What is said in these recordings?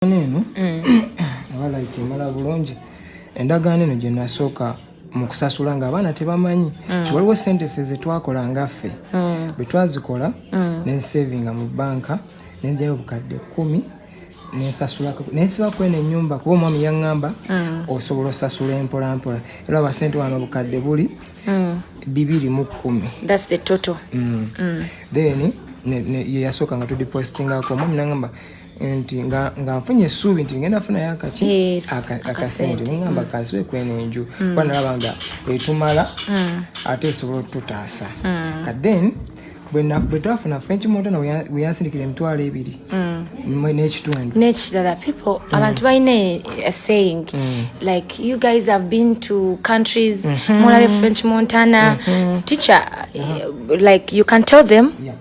endagaano eno aba mm. layiti emala bulungi endagaano eno gye nasooka mu kusasula ng'abaana tebamanyi mm. ti waliwo sente ffe ze twakola nga ffe mm. bwe twazikola ne nsevinga mu bbanka ne njayo obukadde kkumi nensasulako naye siba kwena enyumba kuba omwami yaŋŋamba mm. osobola osasula empolampola era abasente wano bukadde buli mm. bibiri mu kkumi mm. then yeyasooka nga tudipositingako omwami naŋamba nti nga nfunye essuubi nti ngenda funayo akaki akasente nengamba mm. kansibe kwena enju mm. kuba nalaba nga etumala mm. ate esobola otutaasa kaden bwe twafuna french montana weyansindikira emitwalo ebiri mm. n'ekitundu n'ekirala people mm. abantu balina a saying mm. like you guys have been to countries mm-hmm. mulabe french montana mm-hmm. teacher uh-huh. like you can tell them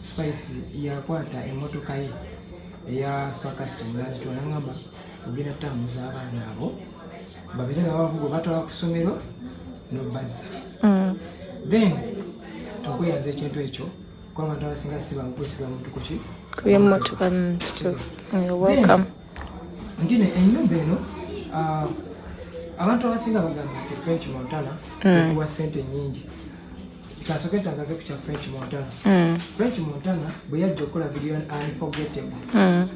Spice yakwata emmotoka ye eya spakasiti mulazitwala ngamba ogenda tambuza abaana abo babere nga bavuga obatwala ku ssomero nobazza mm. then tokweyanza ekintu ekyo kuba abantu abasinga sibankusiga muntu kuki kubyemotoka welcome ngine enyumba eno ah, abantu abasinga bagamba nti french montana mm. etuwa sente nyingi kasoke tangaze ku kya french montana mm. french montana bwe yajja okukola video unforgettable mm.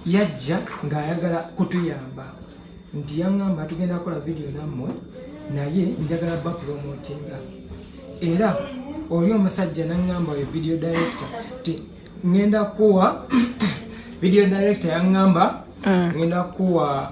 yajja ng'ayagala kutuyamba nti yaŋŋamba tugenda kukola video nammwe naye njagala bapulomotinga era oli omusajja naŋŋamba oyo video director ti ŋenda kuwa video director yaŋŋamba mm. ŋenda kuwa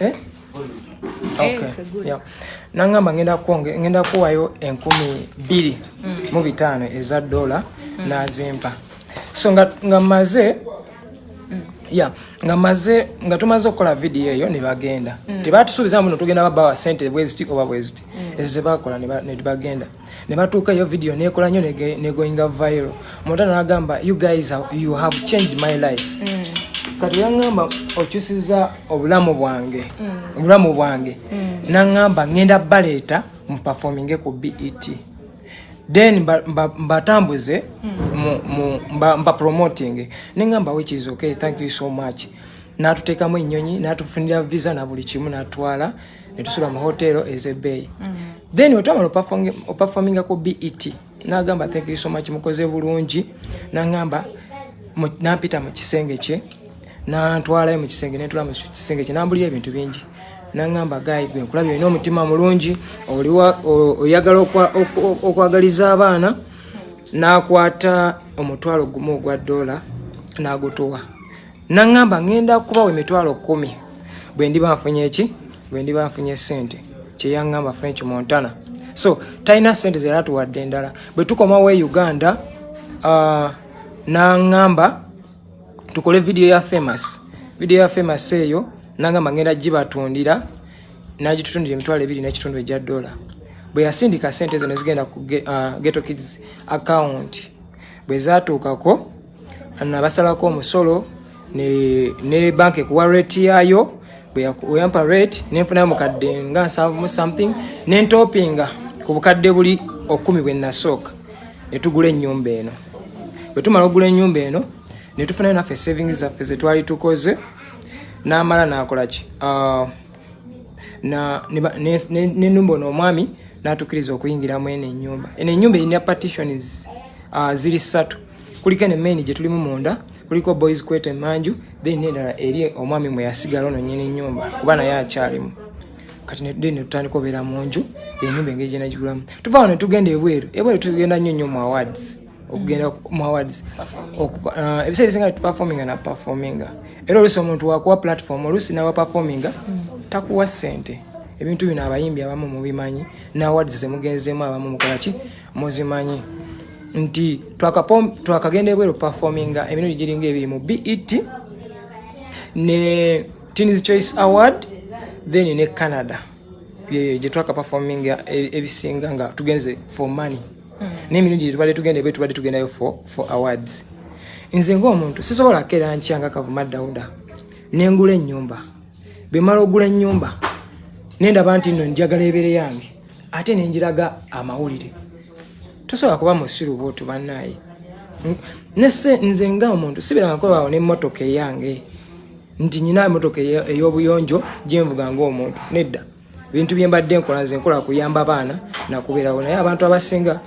eh? Eh, okay. nangamba ngenda kuwonge ngenda kuwayo enkumi bbiri mm. mu bitaano eza dola mm. nazimpa so nga, nga maze mm. ya nga maze nga tumaze okukola vidiyo eyo nebagenda mm. tebatusuubiza muno tugenda babawa sente bweziti oba bweziti mm. ezo zebakola nebagenda ne batuuka eyo video nekola nyo negoinga viral mota nagamba you guys are, you have changed my life mm. kati yangamba okyusiza obulamu bwange mm. obulamu bwange mm. nangamba ngenda baleeta muperforminge ku bet then mbatambuze mbapromotinge nengamba which is okay thank you so much natutekamu enyonyi natufunira visa na buli kimu natwala netusula mu hotero ezebeeyi mm. then wetwamala opafominga ku bet nagamba thank you so much mukoze bulungi nangamba nampita mu kisenge kye nantwalayo mu kisenge nentula mu kisenge kye nambulira ebintu bingi nangamba gayi gwe nkulabye olina omutima mulungi oliwa oyagala okwagaliza abaana nakwata omutwalo gumu ogwa dola nagutuwa naŋŋamba ŋŋenda kubawa emitwalo kkumi bwe ndiba nfunye ki bwe ndiba nfunye ssente kye yaŋŋamba french montana so talina ssente ze yatuwadde endala bwe tukomawo e uganda uh, naŋŋamba tukole vidiyo ya famous vidiyo ya famous eyo naŋŋamba ŋŋenda gibatundira nagitutundira emitwalo ebiri n'ekitundu egya dola bwe yasindika ssente ezo ne zigenda ku uh, geto kids account bwe zatuukako nabasalako omusolo ne banka ekuwa rate yaayo bweyampa rate nenfunayo mukadde nga nsanvu mu something nentopinga ku bukadde buli okumi bwe nasooka netugula ennyumba eno bwetumala okugula ennyumba eno netufunayo naffe savings zaffe zetwali tukoze namala nakolaki ah, nenumba ono omwami natukiriza okuyingira mu eno enyumba eno enyumba erina partitions ah, ziri ssatu kuliko eno main gye tulimu munda kuliko boys kwete manju then nedala eri omwami mwe yasigala ono nyini nyumba kuba naye akyalimu kati then netutandika obeera mu nju enyumba engeri gyenagikulamu tuva wano netugenda ebweru ebweru tugenda nnyo nnyo mu awards okugenda mu awards uh, ebiseera ebisinga tuperforminga na performinga era oluusi omuntu wakuwa platform oluusi nawa performinga takuwa sente ebintu bino abayimbi abamu mubimanyi na awards zemugenzeemu abamu mukolaki muzimanyi nti twakagenda ebweru performinga emirundi giringa ebiri mu bet ne teens choice award then ne canada gyetwaka performinga e, ebisinga nga tugenze for money hmm. nemirundi gyetubadde tugenda ebweru tubadde tugendayo for, for awards nze ngaomuntu sisobola kera nkyanga kavuma dauda nengula enyumba bemala ogula enyumba nendaba nti no njagala ebere yange ate nenjiraga amawulire tosobola kuba musiru bwotu banaye nese nze nga omuntu sibiranga kolawo nemotoka eyange nti nyina emotoka eyobuyonjo gyenvuga ngaomuntu nedda bintu byembadde nkola nze nkola kuyamba baana nakubeerawo naye abantu abasinga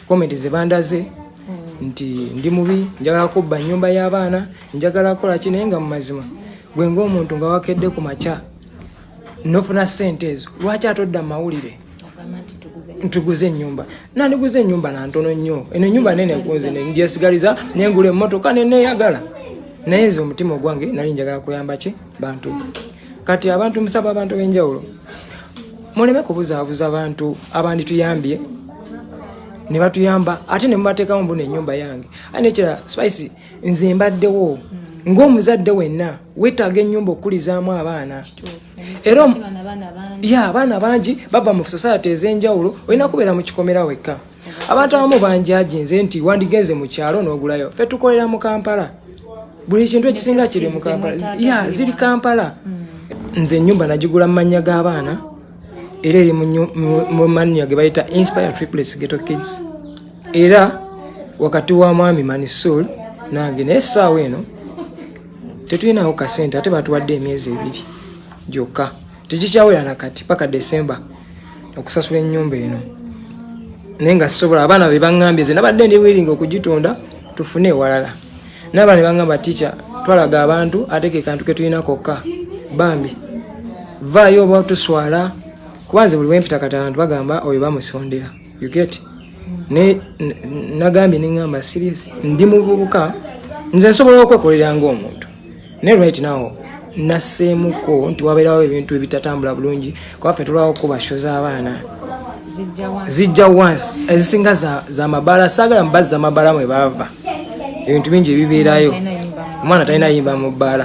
komenti zebandaze hmm. nti ndi mubi njagala kubba nyumba y'abaana njagala kukola ki naye nga mu mazima gwe ngaomuntu nga wakedde ku makya nofuna sente ezo lwaki atodda mawulire ntuguze enyumba nandiguze enyumba nantono nnyo eno enyumba nene kunze njesigaliza nengula emotoka neneyagala naye nze omutima ogwange nali njagala kuyamba ki bantu kati abantu musaba abantu benjawulo muleme kubuzaabuza abantu abandituyambye ne batuyamba ate ne mubateekamu mbuna enyumba yange ate nekirala spice nze mbaddewo hmm. ng'omuzadde wenna weetaaga ennyumba okukulizaamu abaana era ya abaana bangi bava mu sosayati ez'enjawulo olina kubeera mu kikomera wekka abantu abamu banjajinze nti wandigenze mu kyalo n'ogulayo fe tukolera mu kampala buli kintu ekisinga kiri mu kampala ya ziri kampala hmm. nze ennyumba nagigula mu mannya g'abaana era eri mu mannya ge bayita inspire triplets ghetto kids era wakati wa mwami manisul nange naye essaawa eno tetulinawo kasente ate batuwadde emyezi ebiri gyokka tekikyawera nakati paka desemba okusasula enyumba eno naye nga sisobola abaana bebaambye ze nabadde ndi wiringa okugitunda tufune ewalala nabaana bebaamba ticha twalaga abantu ate kekantu ketulina kokka bambi vaayo oba tuswala kubanze buli wempita kati abantu bagamba oyo bamusondera you get ne nagambye nengamba serious ndi muvubuka nze nsobola okwekolera ngaomuntu ne right now naseemuko nti wabeerawo ebintu ebitatambula bulungi kuba ffe tulwawo kuba sho z'abaana zijja wansi ezisinga zamabaala saagala mubazzi zamabaala mwe baava ebintu bingi ebibeerayo omwana talina yimba mu bbaala